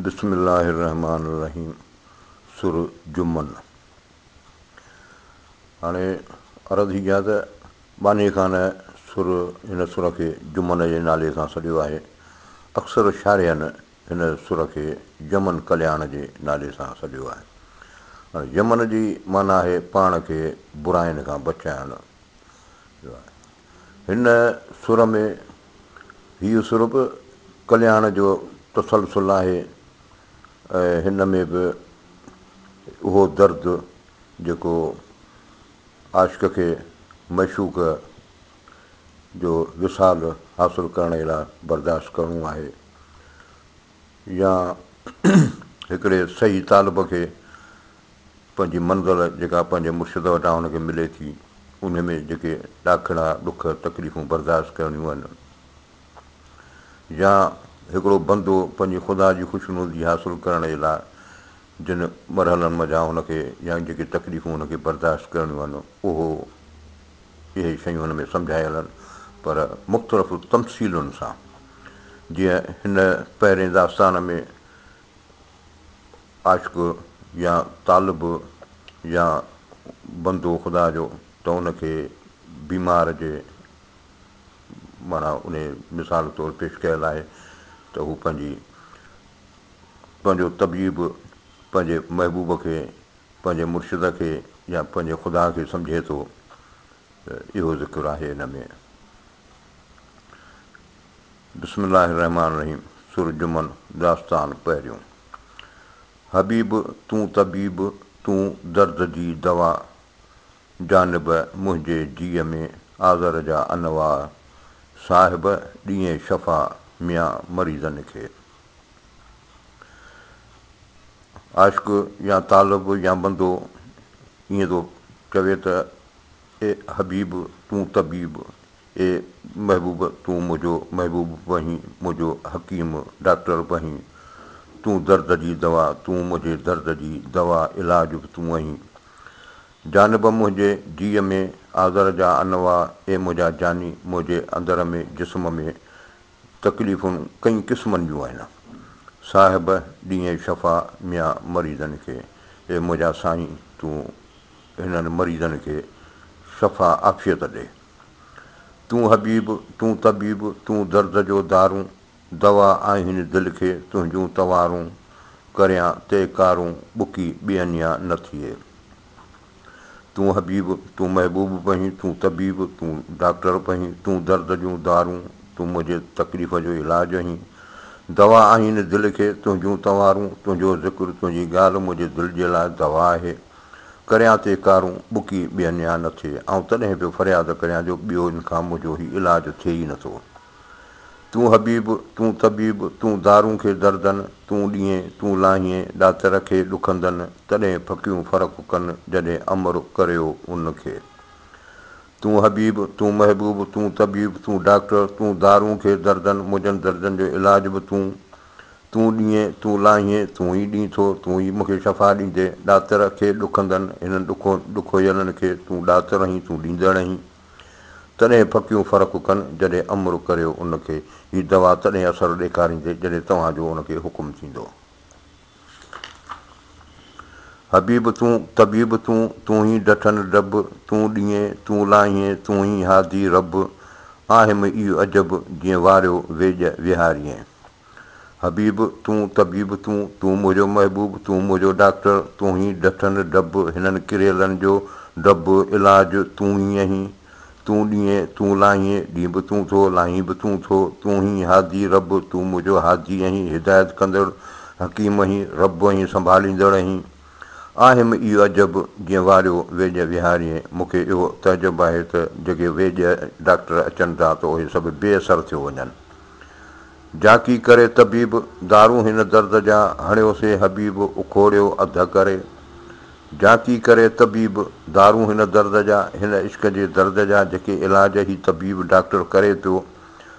بسم الله الرحمٰن الرحيم سورة جمن هاڻي عرض هي ڪيان ته باني خان سر هن سر کي جمن جي نالي سان سڏيو آهي. اڪثر شارحن هن سر کي جمن ڪلياڻ جي نالي سان سڏيو آهي. هاڻي جمن جي معنيٰ آهي پاڻ کي براين کان بچائڻ. هن سر ۾ هيء سر به ڪلياڻ جو تسلسل آهي ۽ هن ۾ به اهو درد جيڪو عاشق کي معشوق جو وصال حاصل ڪرڻ ئي لاء برداشت ڪرڻو آهي يا هڪڙي صحيح طالب کي پنهنجي منزل جيڪا پنهنجي مرشد وٽان هن کي ملي ٿي، انهي ۾ جيڪي ڏاکڙا، ڏک، تڪليفون برداشت ڪرڻيون آهن يا هڪڙو بندو پنهنجي خدا جي خوشنودي حاصل ڪرڻ جي لاء جن مرحلن منجهان هن کي يا جيڪي تڪليفون هن کي برداشت ڪرڻيون آهن اهو اهي شيون هن ۾ سمجهايل آهن پر مختلف تمثيلن سان جيئن هن پهرين داستان ۾ عاشق يا طالب يا بندو خدا جو ته ان کي بيمار جي معنيٰ انهي مثال طور پيش ڪيل آهي ته هو پنهنجي پنهنجو طبيب پنهنجي محبوب کي پنهنجي مرشد کي يا پنهنجي خدا کي سمجهي ٿو ته اهو ذڪر آهي ان ۾. بسم الله الرحمٰن الرحيم سورة جمن داستان پهريون. حبيب تون طبيب تون درد جي دوا جانب منهنجي جيء ۾ آزر جا انواع صاحب ڏيئين شفا ميان مريضن کي عاشق يا طالب يا بندو ائين ٿو چوي ته اي حبيب تون طبيب اي محبوب تون منهنجو محبوب بنهين منهنجو حڪيم ڊاڪٽر بنهين تون درد جي دوا تون منهنجي درد جي دوا علاج به تون اهين جانب منهنجي جيء ۾ آزر جا انواع اي منهنجا جاني منهنجي اندر ۾ جسم ۾ تڪليفون ڪئين قسمن جون آهن صاحب ڏينهين شفا ميان مريضن کي اي منهنجا سائين تون هنن مريضن کي شفا عافيت ڏي. تون حبيب، تون طبيب، تون درد جو دارون، دوا آهين دل کي تنهنجون توارون، ڪريان تي ڪارون، ٻڪي ٻيئنيا نه ٿئي. تون حبيب، تون محبوب پهين، تون طبيب، تون ڊاڪٽر پهين، تون درد جون دارون، تون منهنجي تڪليف جو علاج اهين، دوا آهين دل کي تنهنجون توارون، تنهنجو ذڪر، تنهنجي ڳالهه منهنجي دل جي لاء دوا آهي، ڪريان تي ڪارون ٻڪي ٻين يا نه ٿئي. آئون تڏهن به فرياد ڪريان جو ٻيو ان کان منهنجو هي علاج ٿئي ئي نٿو. تون حبيب، تون طبيب، تون دارون کي دردن، تون ڏينهين، تون لاهينء، ڏاتر کي ڏکندن، تڏهن ڦڪيون فرق ڪن جڏهن امر ڪريو ان کي. تون حبيب، تون محبوب، تون طبيب، تون ڊاڪٽر، تون دارون کي دردن، منهنجن دردن جو علاج به تون، تون ڏينهين، تون لاهينء، تون ئي ڏين ٿو، تون ئي مون کي شفا ڏيندين، ڏاتر کي ڏکندن، هنن ڏکو ڏکويلن کي تون ڏاتر آهين، تون ڏيندڙ آهين. تڏهن ڦڪيون فرق ڪن، جڏهن امر ڪريو ان کي، هي دوا تڏهن اثر ڏيکاريندي، جڏهن توهان جو ان کي حڪم ٿيندو. حبيب تون، طبيب تون، تون ئي ڊٺن ڊڀ، تون ڏينهين، تون لاهينء، تون ئي هادي رڀ، آهه م ايء عجب، جيئن واريو ويڄ ويهارينء. حبيب، تون طبيب تون، تون منهنجو محبوب، تون منهنجو ڊاڪٽر، تون هي ڊٺن ڊڀ، هنن ڪريلن جو ڊڀ، علاج تون ئي اهين، تون ڏيئين، تون لاهين، ڏينب تون ٿو، لاهين به تون ٿو، تون هي هادي رب، تون منهنجو هادي اهين، هدايت ڪندڙ، حڪيم اهين، رب اهين، سنڀاليندڙ اهين. آهيم اي عجب، جئن واريو ويڄ ويهاريين، مون کي اهو تعجب آهي ته جيڪي ويڄ ڊاڪٽر اچن ٿا ته اهي سڀ بي اثر ٿيو وڃن. جاکي ڪري طبيب، دارون هن درد جا، هڻيو سي حبيب، اکوڙيو اڌ ڪري. جاکي ڪري طبيب، دارون هن درد جا، هن عشق جي درد جا، جيڪي علاج هي طبيب، ڊاڪٽر ڪري پيو،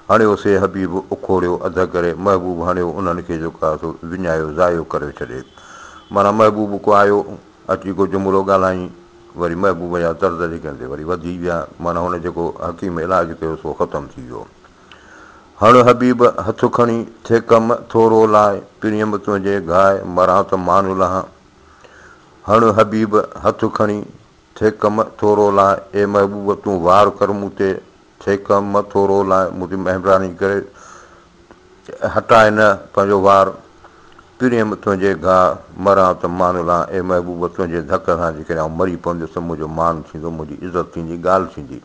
هڻيو سي حبيب، اکوڙيو اڌ ڪري، محبوب هڻيو انهن کي جو ڪا سو وڃايو ضايو ڪريو ڇڏي. معنيٰ محبوب ڪو آيو، اچي ڪو جملو ڳالهائين، وري محبوب جا درد جيڪي هن تي وري وڌي ويا، معنيٰ هن جيڪو حڪيم علاج ڪيو سو ختم ٿي ويو. هڻ حبيب هٿ کڻي، ٿي ڪم ٿورو لاء، پريم تنهنجي گهاء، مران ته مان لهان. هڻ حبيب هٿ کڻي، ٿي ڪم ٿورو لاء، اي محبوب تون وار ڪر مون تي، ٿي ڪم ٿورو لاء، مون تي مهرباني ڪري هٽاء نه پنهنجو وار، پريم تنهنجي گهاء، مران ته مان لهان، اي محبوب تنهنجي ڌڪ سان جيڪڏهن آئون مري پونديس ته منهنجو مان ٿيندو، منهنجي عزت ٿيندي، ڳالهه ٿيندي.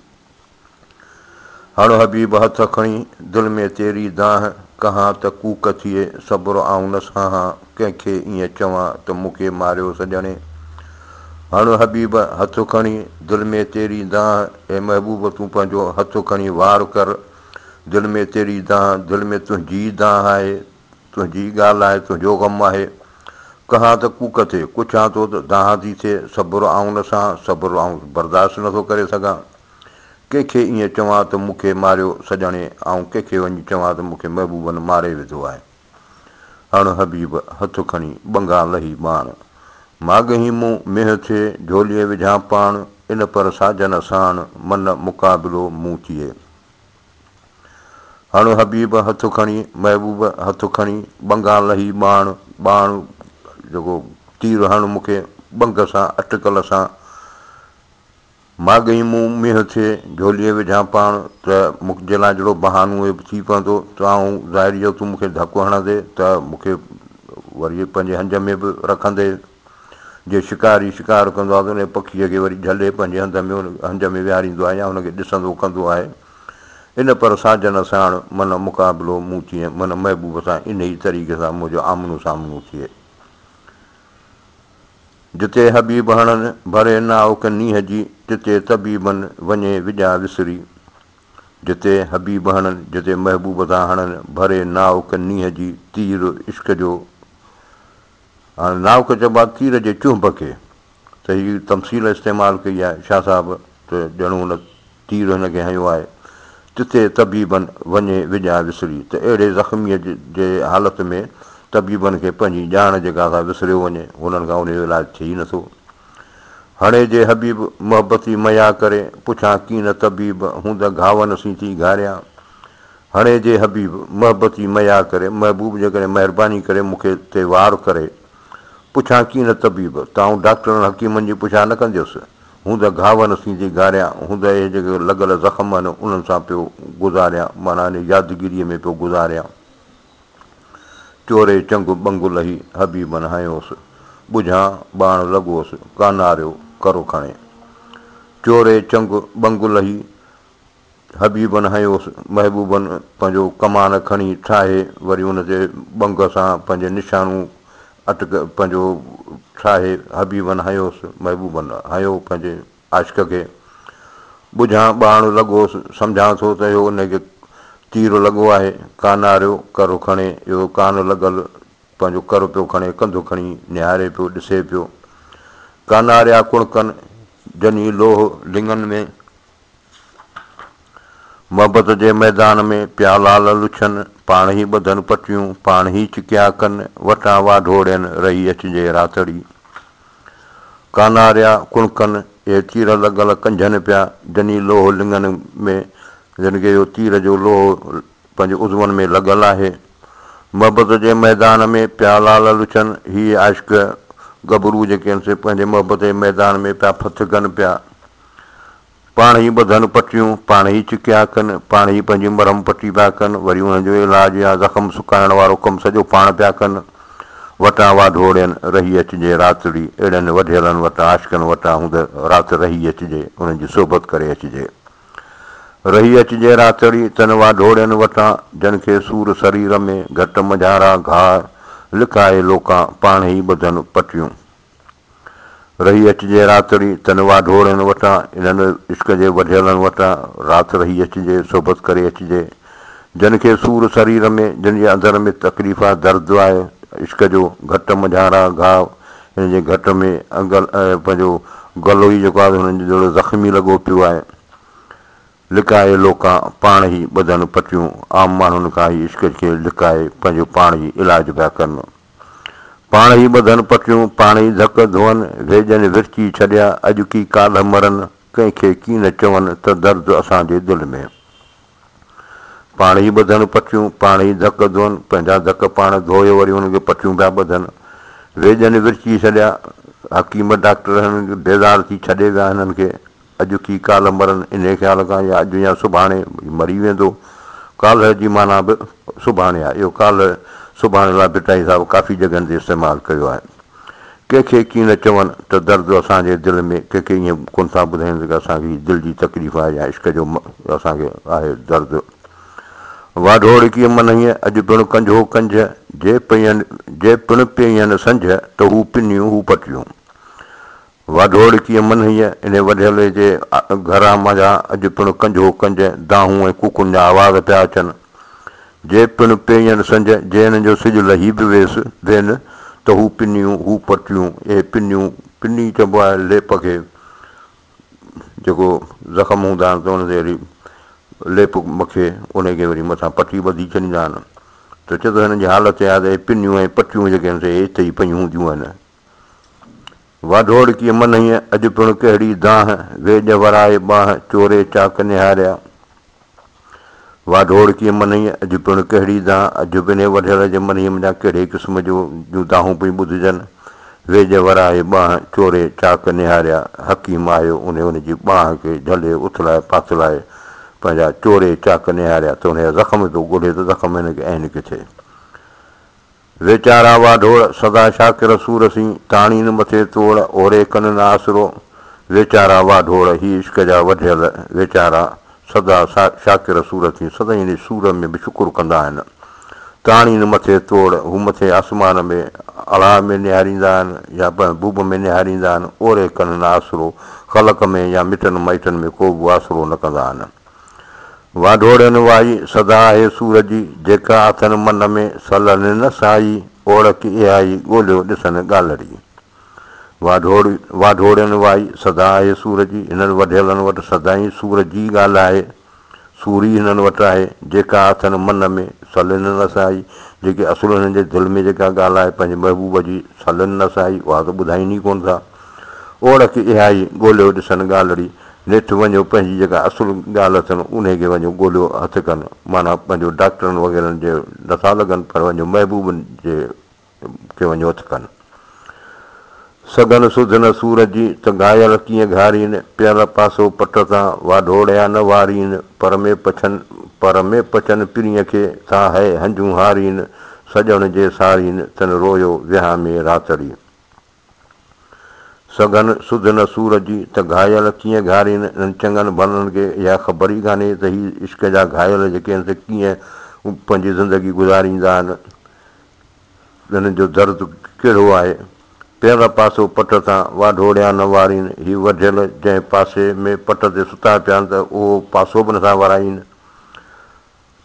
هڻ حبيب هٿ کڻي، دل ۾ تيري دانهن ڪهان ته ڪوڪ ٿئي، صبر آئون نه سهان، ڪنهن کي ائين چوان ته مون کي ماريو سڄڻي. هڻ حبيب هٿ کڻي، دل ۾ تيري دانهن، اي محبوب تون پنهنجو هٿ کڻي وار ڪر، دل ۾ تيري دانهن، دل ۾ تنهنجي ئي دانهن آهي، تنهنجي ئي ڳالهه آهي، تنهنجو غم آهي. ڪهان ته ڪوڪ ٿئي، ڪڇان ٿو ته دانهن ٿي ٿئي، صبر آئون نه سهان، صبر آئون برداشت نه ٿو ڪري سگهان. ڪنهن کي ائين چوان ته مون کي ماريو سڄڻي، آئون ڪنهن کي وڃي چوان ته مون کي محبوبن ماري وڌو آهي. هڻ حبيب هٿ کڻي، ٻنگان لهي ٻاڻ. مان ڳهين مون مينهن ٿئي، جهوليء وجهان پاڻ، ان پر ساجن ساڻ، من مقابلو مون ٿئي. هڻ حبيب هٿ کڻي، محبوب هٿ کڻي، ٻنگان لهي ٻاڻ، ٻاڻ جيڪو تير هڻ مون کي، ٻنگ سان اٽڪل سان، ماڳهين مون مينهن ٿئي، جهوليء وجهان پاڻ، ته مون جي لاء جهڙو بهانو اهي به ٿي پوندو، ته آئون ظاهري جو تون مون کي ڌڪ هڻندي، ته مون کي وري پنهنجي هنج ۾ به رکندي، جيئن شڪاري شڪار ڪندو آهي ته انهيء پکيء کي وري جهلي پنهنجي هنڌ ۾ هنج ۾ ويهاريندو آهي يا هن کي ڏسندو ڪندو آهي. ان پر ساجن ساڻ من مقابلو مون تيئن من محبوب سان انهيء طريقي سان منهنجو آمنو سامنو ٿئي. جتي حبيب هڻن ڀري ناوڪ نينهن جي تتي طبيبن وڃي وڄا وسري. جتي حبيب هڻن، جتي محبوب سان هڻن ڀري ناوڪ نينهن جي تير عشق جو هاڻي ناوڪ چئبو آهي تير جي چهنب کي ته هي تمثيل استعمال ڪئي آهي شاهه صاحب ته ڄڻ ان تير هن کي هنيو آهي تتي طبيبن وڃي وڄاء وسري ته اهڙي زخميء جي حالت ۾ طبيبن کي پنهنجي ڄاڻ جي گاٿا وسريو وڃي هنن کان انهيء جو علاج ٿئي ئي نٿو هڻي جي حبيب محبتي ميا ڪري پڇان ڪين طبيب هون ته گهاون سين ٿي گهاريان هڻي جي حبيب! محبت جي ميار ڪري، محبوب جيڪڏهن مهرباني ڪري مون کي تي وار ڪري، پڇان ڪين نه طبيب، ته آئون ڊاڪٽرن حڪيمن جي پڇا نه ڪنديس، هون ته گهاوء نسين جي گاريان، هون ته اهي جيڪي لڳل زخم آهن انهن سان پيو گذاريان، معنيٰ انهيء يادگيريء ۾ پيو گذاريان. چوري چنگ ٻنگ لهي، حبيبن هنيوس، ٻجهان ٻاڻ لڳوس، ڪاناريو ڪرو کڻي. چوري چنگ ٻنگ لهي، حبيبن هنيوس. محبوبن پنهنجو ڪمان کڻي ٺاهي وري ان تي ٻنگ سان پنهنجي نشانو اٽڪ پنهنجو ٺاهي حبيبن هنيوس. محبوبن هنيو پنهنجي عاشق کي. ٻجهان ٻاڻ لڳوس. سمجهان ٿو ته اهو ان کي تير لڳو آهي. ڪاناريو ڪر کڻي اهو ڪان لڳل پنهنجو ڪر پيو کڻي ڪنڌ کڻي نهاري پيو ڏسي پيو. ڪاناريا ڪڻڪن جني لوهه لڱن ۾. محبت جي ميدان ۾ پيا لعل لڇن، پاڻ هي ٻڌن پٽيون، پاڻ هي چڪيا ڪن، وٽان واڍوڙين رهي اچجي راتڙي. ڪاناريا ڪڻڪن، اهي تير لڳل ڪنجهن پيا، جني لوهه لڱن ۾، جن کي اهو تير جو لوهه پنهنجي عضون ۾ لڳل آهي. محبت جي ميدان ۾ پيا لعل لڇن، هي عاشق گڀرو جيڪي هن سين پنهنجي محبت جي ميدان ۾ پيا ڦٿ ڪن پيا. پاڻ ئي ٻڌن پٽيون، پاڻ ئي چڪيا ڪن، پاڻ ئي پنهنجي مرهم پٽي پيا ڪن، وري انهن جو علاج يا زخم سڪائڻ وارو ڪم سڄو پاڻ پيا ڪن. وٽان واڌوڙين، رهي اچجي راتڙي، اهڙن وڍيلن وٽان، عاشقن وٽان هوند رات رهي اچجي، انهن جي صحبت ڪري اچجي. رهي اچجي راتڙي، تن واڍوڙين وٽان، جن کي سور سرير ۾، گهٽ منجهارا گهاء، لکائي لوڪان، پاڻ ئي ٻڌن پٽيون. رهي اچجي راتڙي تن واڍوڙن وٽان، انهن عشق جي وڍيلن وٽان، رات رهي اچجي صحبت ڪري اچجي، جن کي سور سرير ۾، جن جي اندر ۾ تڪليف آ، درد آ، عشق جو گهٽ منجهان را گهاء، هن جي گهٽ ۾ پنهنجو گلو ئي جيڪو آ هنن جي دڙو زخمي لڳو پيو آ. لڪائي لوڪان پاڻ هي ٻڌن پٽيون عام ماڻهن کان هي عشق کي لڪائي پنهنجو پاڻ هي علاج پيا ڪن پاڻ هي ٻڌن پٽيون پاڻ هي ڌڪ ڌون ويڄن ورچي ڇڏيا اڄ ڪي ڪالهه مرن ڪنهن کي ڪي نه چون ته درد اسان جي دل ۾ پاڻ هي ٻڌن پٽيون پاڻ هي ڌڪ ڌون پنهنجا ڌڪ پاڻ ڌوئي وري انهن کي پٽيون پيا ٻڌن ويڄن ورچي ڇڏيا حڪيم ڊاڪٽر هنن کي بيزار ٿي ڇڏي ويا هنن کي اڄ ڪي ڪالهه مرن انهيء خيال کان يا اڄ يا سڀاڻي هي مري ويندو. ڪالهه جي معنيٰ به سڀاڻي آهي. اهو ڪالهه سڀاڻي لاء ڀٽائي صاحب ڪافي جڳهن تي استعمال ڪيو آهي. ڪنهن کي ڪي نه چون ته درد اسان جي دل ۾ ڪنهن کي ائين ڪونه ٿا ٻڌايون ته اسان کي هي دل جي تڪليف آهي يا عشق جو اسان کي آهي درد. واڍوڙڪيء منهيء اڄ پڻ ڪنجهو ڪنجهه جي پئين جي پڻ پيئين سنجهه ته هو پنيون هو پٽيون. واڍوڙ ڪيئن منهيء انهي وڍيلي جي گهران منجهان اڄ پڻ ڪنجهو ڪنج، دانهون ۽ ڪوڪن جا آواز پيا اچن. جي پڻ پيئن سنج، جيئن جو سج لهي به ويس، وين، ته هو پنيون، هو پرتيون، اهي پنيون، پني چئبو آهي ليپ کي، جيڪو زخم هوندا آهن ته ان تي وري ليپ مکي، انهي کي وري مٿان پٽي ٻڌي ڇڏيندا آهن، ته چئجي ٿو هنن جي حالت اها آهي ته اهي پنيون ۽ پٽيون جيڪي آهن سي اتي ئي پيون هونديون آهن. واڍوڙڪيء منهيء اڄ پڻ ڪهڙي دانهن، ويڄ ورائي ٻانهن، چوري چاڪ نهاريا. واڍوڙڪيء منهيء اڄ پڻ ڪهڙي دانهن، اڄ به انهيء وڍيل جي منهيء منجهان ڪهڙي قسم جو جون دانهون پيون ٻڌجن، ويڄ ورائي ٻانهن، چوري چاڪ نهاريا. حڪيم آيو، انهيء ان جي ٻانهن کي جهلي اٿلائي پاٿلائي پنهنجا چوري چاڪ نهاريا ته انهيء زخم پيو ڳولهي ته زخم هن کي عين ڪٿي. ويچارا واڍوڙ، سدا شاڪر سور سين، تاڻي نه مٿي توڙ، اوري ڪن نه آسرو. ويچارا واڍوڙ، هي عشق جا وڍيل، ويچارا سدا شاڪر سور سين، سدائين ان سور ۾ به شڪر ڪندا آهن. تاڻي نه مٿي توڙ، هو مٿي آسمان ۾ اڙاء ۾ نهاريندا آهن يا محبوب ۾ نهاريندا آهن، اوري ڪن نه آسرو، خلق ۾ يا مٽن مائٽن ۾ ڪو به آسرو نه ڪندا آهن. واڍوڙن وائي سدا آهي سور جي، جيڪا اٿن من ۾، سا لهن نه سهائي، اوڙڪ اهائي، ڳولهيو ڏسن ڳالهڙي. واڍوڙ، واڍوڙن وائي سدا آهي سور جي، هنن وڍيلن وٽ سدائين سور جي ئي ڳالهه آهي، سور ئي هنن وٽ آهي، جيڪا اٿن من ۾، سا لهن نه سهائي، جيڪي اصل هنن جي دل ۾ جيڪا ڳالهه آهي پنهنجي محبوب جي، سا لهن نه سهائي، اها ته ٻڌائين ئي ڪونه ٿا. اوڙڪ اهائي، ڳولهيو ڏسن ڳالهڙي، نيٺ وڃو پنهنجي جيڪا اصل ڳالهه اٿن انهي کي وڃو ڳوليو هٿ ڪن معنيٰ پنهنجو ڊاڪٽرن وغيرن جي نٿا لڳن پر وڃو محبوبن جي کي وڃو هٿ ڪن سگهن سڌ نه سور جي ته گهايل ڪيئن گهارين پيل پاسو پٽ تان واڍوڙيا نه وارين پر ۾ پڇن پر ۾ پچن پرينء کي ٿا هئي هنجون هارين سڄڻ جي سارين تن رويو ويهان ۾ راتڙي. سگهن، سڌ نه سور جي ته گهايل ڪيئن گهارين، انهن چڱن ڀلن کي اها خبر ئي ڪانهي ته هي عشق جا گهايل جيڪي آهن سي ڪيئن پنهنجي زندگي گذاريندا آهن، انهن جو درد ڪهڙو آهي. پيل پاسو پٽ تان واڍوڙيان نه وارين، هي وڍيل جنهن پاسي ۾ پٽ تي ستا پيا آهن ته اهو پاسو به نٿا ورائين.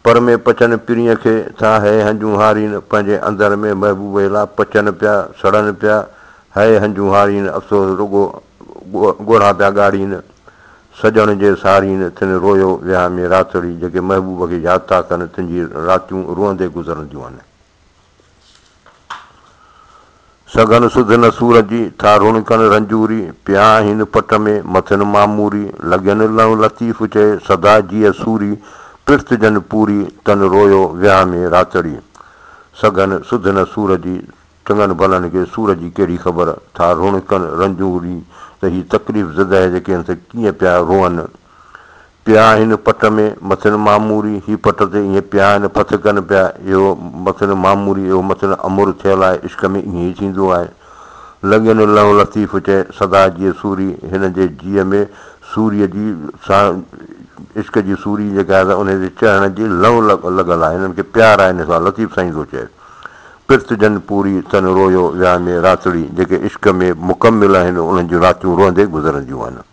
پر ۾ پچن پرينء کي ٿا هيء هنجون هارين پنهنجي اندر ۾ محبوب هيلا پچن پيا سڙن پيا هيء هنجون هارين افسوس رڳو ڳوڙها پيا ڳاڙين سڄڻ جي سارين تن رويو ويهامي راتڙي جيڪي محبوب کي ياد ٿا ڪن تن جي راتيون روئندي گذرنديون آهن. سگهن سڌ نه سور جي، ٿا رڻڪن رنجوري، پيا آهين پٽ ۾، مٿن معموري، لڳين لئون لطيف چئي، سدا جيء سوري، پرٿ جن پوري، تن رويو وياه ۾ راتڙي. سگهن سڌ نه سور جي، چڱن ڀلن کي سور جي ڪهڙي خبر، ٿا رڻڪن رنجوري، ته هي تڪليف زده جيڪي هن سان ڪيئن پيا روئن، پيا هن پٽ ۾، مٿن معموري، هي پٽ تي ايئن پيا آهن، پٿ ڪن پيا، اهو مٿن معموري، اهو مٿن امر ٿيل آهي، عشق ۾ ايئن ئي ٿيندو آهي. لڳين لئو لطيف چئي، سدا جيئي سوري، هن جي جيء ۾ سوريء جي سان عشق جي سوري جيڪا آهي سا انهيء جي چهڻ جي لئو لڳل آهي، هنن کي پيار آهي هن سان، لطيف سائين ٿو چئي. پرت جن پوري، تن رويو ويا ۾ راتڙي، جيڪي عشق ۾ مڪمل آهن، انهن جون راتيون روئندي گذرنديون آهن.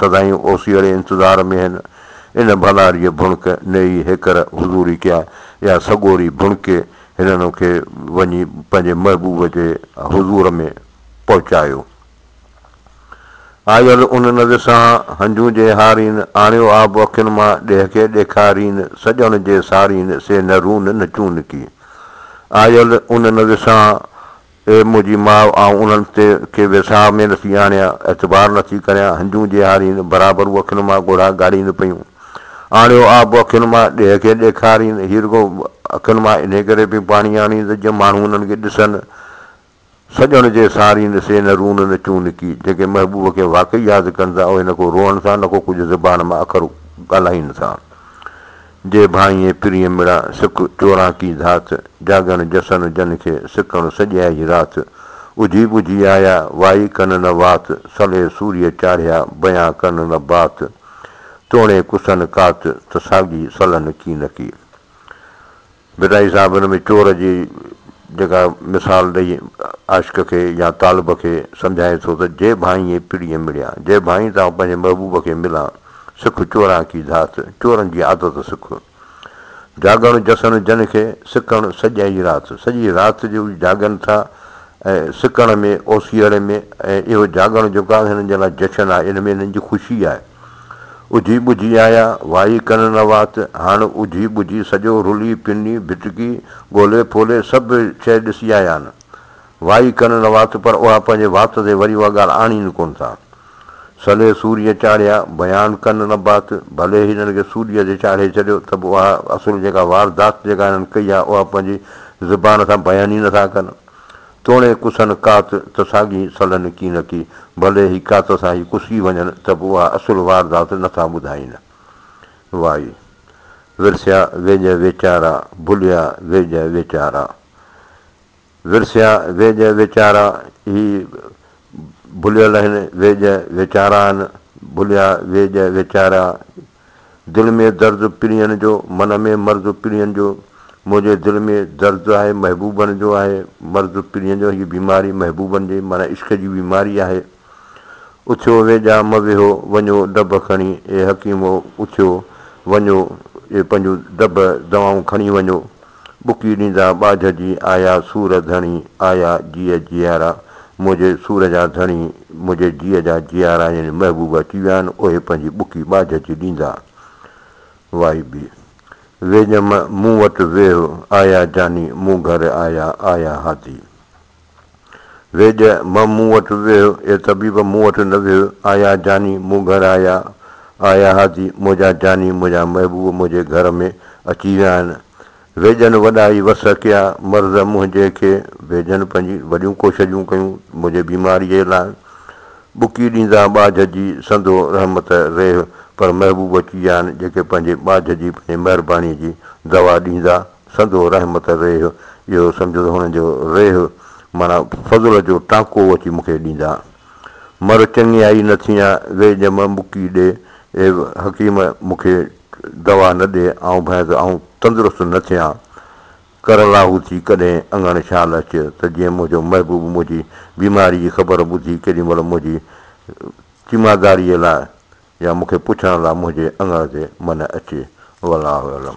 سدائين اوسيئڙي انتظار ۾ هن ان ڀناريء ڀڻڪ نئي هيڪر حضوري ڪيا يا سڳوري ڀڻڪي هنن کي وڃي پنهنجي محبوب جي حضور ۾ پهچايو. آيل ان نظر سان هنجون جي هارين آڻيو آب اکين مان ڏيهڪي ڏيکارين سڄڻ جي سارين سي نه رون نه چونڪي آيل ان نظر سان اي منهنجي ماء، آئون انهن تي ڪي ويساهه ۾ نٿي آڻيان، اعتبار نٿي ڪريان، هنجون جي هارين، برابر هو اکين مان ڳوڙها ڳاڙين پيون. آڻيو آب اکين مان، ڏيهه کي ڏيکارين، هي رڳو اکين مان انهي ڪري پيون پاڻي آڻين ته جيئن ماڻهو انهن کي ڏسن، سڄڻ جي سارين، سي نه رون نه چون نڪي، جيڪي محبوب کي واقعي ياد ڪن ٿا، اهي نه ڪو روئن ٿا، نه ڪو ڪجهه زبان مان اکر ڳالهائين ٿا. جي ڀانئي پرينء مڙا سڪ چوراڪي ڌات، جاڳڻ جسن جن کي سڪڻ سڄيائي رات، اجهي ٻجهي آيا وائي ڪن نه وات، صلي سوريء چاڙهيا بيان ڪن نه بات، توڻي ڪسن ڪات ته ساڳي صلن ڪي نه ڪي. بدائي صاحب ان ۾ چور جي جيڪا مثال ڏئي عاشق کي يا طالب کي سمجهائي ٿو ته جي ڀانئي پڙيء مڙيا، جي ڀانئي تان پنهنجي محبوب کي ملان، سک چوران ڪي ڌات، چورن جي عادت سک. جاڳڻ جسن جن کي، سڪڻ سڄئي رات، سڄي رات جو جاڳن ٿا ۽ سڪڻ ۾ اوسيئڙي ۾ ۽ اهو جاڳڻ جيڪو آهي هنن جي لاء جشن آهي، ان ۾ هنن جي خوشي آهي. اجهي ٻجهي آيا، وائي ڪن نه وات، هاڻ اجهي ٻجهي سڄو رلي پني ڀٽڪي، ڳولي ڦولي سڀ شيء ڏسي آيا آهن. وائي ڪن نه وات پر اها پنهنجي وات تي وري اها ڳالهه آڻين ڪونه ٿا. سلي سوريء چاڙهيا، بيان ڪن نه بات، ڀلي هنن کي سوريء تي چاڙهي ڇڏيو ته به اها اصل جيڪا واردات جيڪا هنن ڪئي آهي اها پنهنجي زبان سان بيان ئي نه ٿا ڪن. توڻي ڪسن ڪات ته ساڳي سلن ڪين ٿي، ڀلي هي ڪات سان هي ڪسي وڃن ته به اها اصل واردات نه ٿا ٻڌائين. وائي. ورسيا ويڄ ويچارا، ڀليا ويڄ ويچارا. ورسيا ويڄ ويچارا، هي ڀليل آهن، ويڄ ويچارا آهن، ڀليا ويڄ ويچارا. دل ۾ درد پرينء جو، من ۾ مرض پرينء جو، منهنجي دل ۾ درد آهي محبوبن جو آهي مرض پرينء جو، هيء بيماري محبوبن جي معنيٰ عشق جي بيماري آهي. اٿيو ويڄا م ويهو، وڃو ڊڀ کڻي اي حڪيمو اٿيو وڃو اي پنهنجون ڊڀ دوائون کڻي وڃو. ٻڪي ڏيندا ٻاجهه جي، آيا سور ڌڻي، آيا جيء جيارا، منهنجي سور جا ڌڻي، منهنجي جيء جا جيارا يعني محبوب اچي ويا آهن، اهي پنهنجي ٻڪي ٻاجهه جي ڏيندا. وائي بي. ويڄم مون وٽ ويهه، آيا جاني، مون گهر آيا، آيا هادي. ويڄ مئم مون وٽ ويهه، اي طبيب مون وٽ نه ويهه، آيا جاني مون گهر آيا، آيا هادي منهنجا جاني منهنجا محبوب منهنجي گهر ۾ اچي ويا آهن. ويڄن وڏا ئي وس ڪيا، مرض منهنجي کي ويڄن پنهنجي وڏيون ڪوشجون ڪيون منهنجي بيماريء جي لاء. ٻڪي ڏيندا ٻاجهه جي سندو رحمت ريهه پر محبوب اچي ويا آهن جيڪي پنهنجي ٻاجهه جي پنهنجي مهربانيء جي دوا ڏيندا سندو رحمت ريح اهو سمجهو ته هن جو ريح معنيٰ فضل جو ٽانڪو اچي مون کي ڏيندا. مر چڱي آئي نه ٿينء وي ڄم مڪي ڏي، اي حڪيم مون کي دوا نه ڏي آئون ڀانء ته آئون تندرست نه ٿيان. ڪر لاهو ٿي ڪڏهن اڱڻ شال اچ ته جيئن منهنجو محبوب منهنجي بيماري جي خبر ٻڌي ڪيڏي مهل منهنجي تيمارداريء لاء يا مون کي پڇڻ لاء منهنجي اڱڻ تي منهن اچي. والله اعلم.